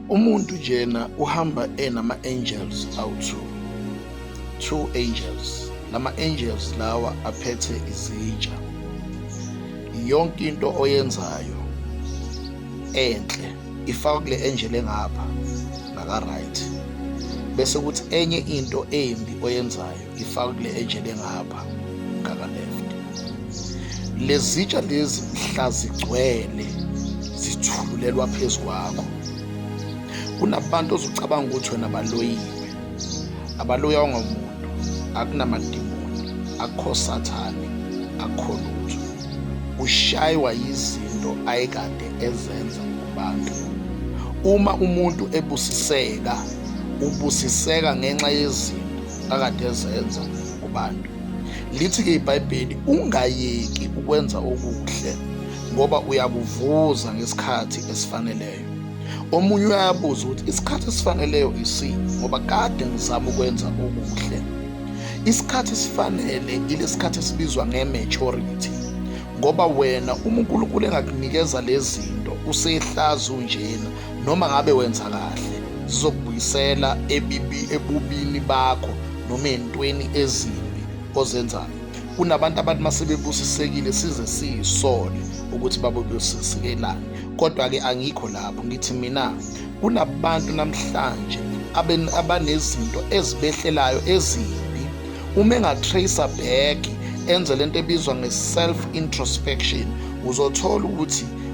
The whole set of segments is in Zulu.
Umuntu njena uhamba enama angels awu2. Two angels. Lama angels lawa aphethe izitsha. Yonke into oyenzayo enhle ifaka kule angel engapha naka right. Bese kuthi enye into embi oyenzayo ngifaka kule ejele ngapha ngaka left lezitsha lezi mhla zigcwele zithululelwa phezu kwakho kunabantu ozucabanga ukuthi wena baloyiwe abaloya ongamuntu akunamadimoni akho sathane akho lutho ushaywa yizinto ayekade ezenza kubantu uma umuntu ebusiseka ubusiseka ngenxa yezinto akade ezenza kubantu. Lithi-ke iBhayibheli ungayeki ukwenza okuhle ngoba uyakuvuza ngesikhathi esifaneleyo. Omunye uyabuza ukuthi isikhathi esifaneleyo isini ngoba kade ngizama ukwenza okuhle. Isikhathi esifanele ilesikhathi esibizwa nge-maturity ngoba wena uma uNkulunkulu engakunikeza lezi zinto usehlazi unjena Noma ngabe wenza kahle, zizokubuyisela ebibi ebubini bakho noma entweni ezimbi ozenzayo. Kunabantu abantu masebebusisekile size siyisole ukuthi babebusisikelani. Kodwa-ke angikho lapho ngithi mina kunabantu namhlanje abanezinto ezibehlelayo ezimbi uma engatracer back enze lento ebizwa nge-self introspection uzothola ukuthi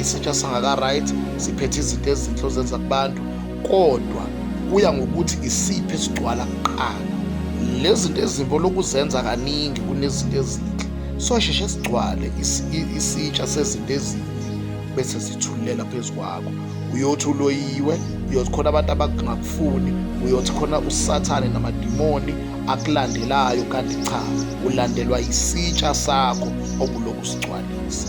isitsha sangaka-right siphethe izinto ezinhle ozenza kubantu kodwa kuya ngokuthi isiphi esigcwala kuqala lezi zinto ezimbi olokuzenza kaningi kunezinto ezinhle sosheshe sigcwale isitsha sezinto ezinhle bese zithulela phezu kwakho uyothi uloyiwe uyothi khona abantu abangakufuni uyothi khona usathane namadimoni akulandelayo kanti cha ulandelwa isitsha sakho obulokhu sigcwalisa